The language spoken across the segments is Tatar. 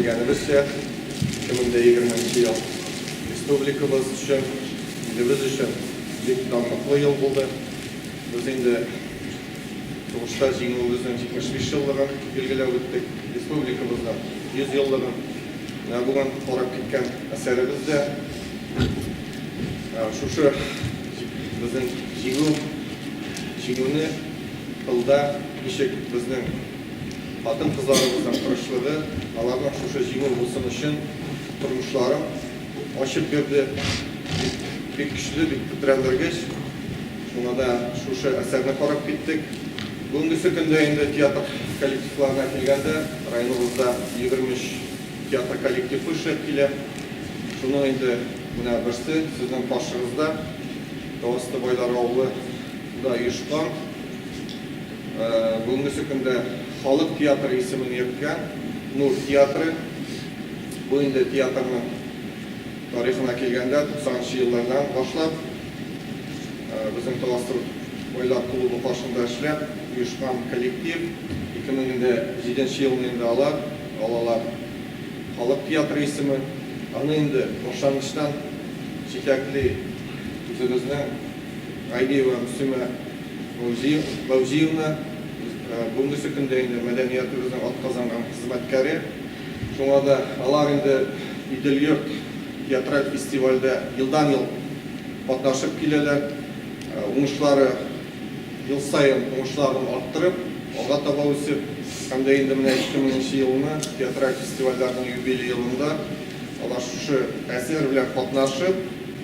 Белгәнебезчә, 2020 нче ел республикабыз өчен, илебез өчен бик данлыклы ел булды. Без инде сугышта Җиңүебезнең 75 еллыгын билгеләп үттек, республикабызның 100 еллыгын. Менә бүген карап киткән әсәребез дә шушы безнең Җиңү, Җиңүне тылда ничек безнең хатын-кызларыбызның тырышлыгы, аларның шушы җиңү булсын өчен тормышларын ачып бирде. Бик көчле, бик тетрәндергеч. Шуңа да шушы әсәрне карап киттек. Бүгенгесе көндә инде театр коллективларына килгәндә, районыбызда 23 театр коллективы эшләп килә. Шуның инде менә берсе, сезнең каршыгызда, Тау асты байлар авылы да оешкан. Бүгенгесе көндә халык театры исемен йөрткән Нур театры, бу инде театрның тарихына килгәндә, 90 нчы еллардан башлап безнең Таластыр байлар клубы каршында эшләп оешкан коллектив. 2007 нче елны инде алар алалар халык театры исемен. Аны инде башлангычтан җитәкли үзебезнең Гайдиева Мөслимә Фәүзиевна, бүгенгесе көндә инде мәдәниятебезнең атказанган хезмәткәре. Шуңа да алар инде Идел-йорт театраль фестивальдә елдан-ел катнашып киләләр. Уңышлары ел саен уңышларын арттырып, алга таба үсеп һәм дә инде менә 2000 нче елны театраль фестивальләрнең юбилей елында алар шушы әсәр белән катнашып,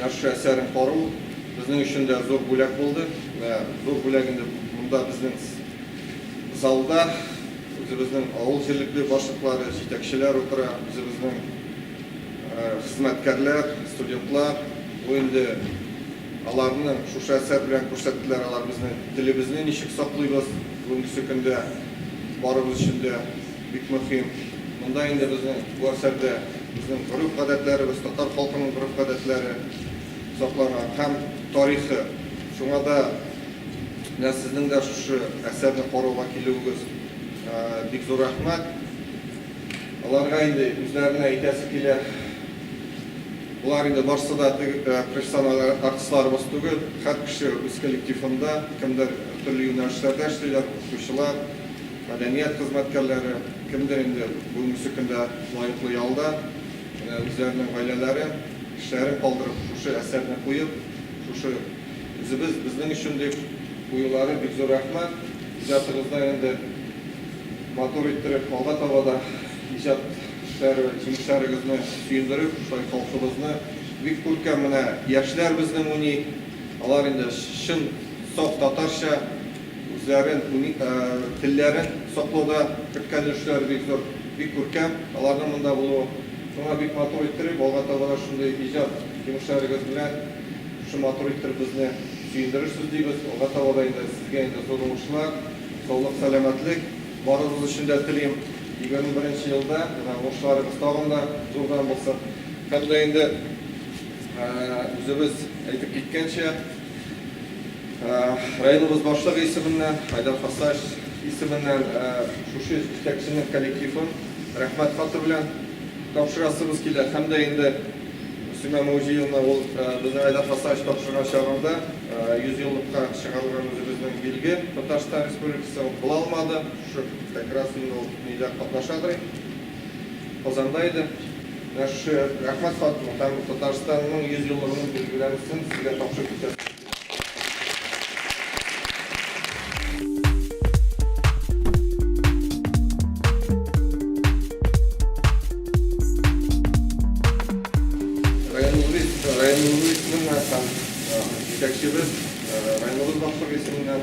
Яхшы әсәрен кару безнең өчен дә зур бүләк булды. Менә зур бүләк инде монда безнең залда үзебезнең авыл җирлекле башлыклары, җитәкчеләр утыра, үзебезнең хезмәткәрләр, студентлар. Бу инде аларны шушы әсәр белән күрсәттеләр, алар безнең телебезне ничек саклыйбыз бүгенгесе көндә барыбыз өчен дә. Бик мөһим. Монда инде безнең бу әсәрдә безнең гореф-гадәтләребез, татар халкының гореф-гадәтләре сакланган һәм тарихы. Шуңа да менә сезнең дә шушы әсәрне карауга килүегез бик зур рәхмәт. Аларга инде үзләренә әйтәсе килә. Болар инде барсы да теге профессиональ артистларыбыз түгел. Һәр кеше үз коллективында, кемдер төрле юнәлешләрдә эшлиләр, укытучылар. Мәдәният хезмәткәрләре, кемдер инде бүгенгесе көндә лаеклы ялда, менә үзләренең гаиләләре, кешеләрен калдырып, шушы әсәрне куеп, шушы үзебез, безнең өчен дип куюлары бик зур рәхмәт. Иҗатыгызны инде матур иттереп, алга таба да иҗат эшләре, җимешләрегезне сөендереп, шулай халкыбызны бик күркәм менә яшьләр безнең уйный, алар инде чын, саф татарча. Үзләрен, уник телләрен саклауда керткән өлешләре бик зур, бик күркәм аларның монда булуы. Шуңа бик матур иттереп, алга таба да шундый иҗат җимешләрегез белән шушы матур иттереп безне сөендерерсез дибез. Алга таба да инде сезгә инде зур уңышлар, саулык-сәламәтлек барыгыз өчен дә телим. Егерме беренче елда менә уңышларыгыз тагын да зурдан булсын. Һәм дә инде үзебез әйтеп киткәнчә. Районыбыз башлыгы исеменнән, Айдар Хасаев исеменнән шушы җитәкченең коллективын рәхмәт хаты белән тапшырасыбыз килә. Һәм дә инде Сюма Муҗиевна ул безнең Айдар Хасаевич тапшырган чагында 100 еллыкка чыгарылган үзебезнең билге Татарстан Республикасы, ул була алмады. Шушы как раз инде ул нидә катнашадыр инде. Казанда иде. Менә шушы рәхмәт хатны һәм Татарстанның 100 еллыгының билгеләмәсен сезгә тапшырып китәм. Районыбыз исеменнән һәм җитәкчебез районыбыз башлыгы исеменнән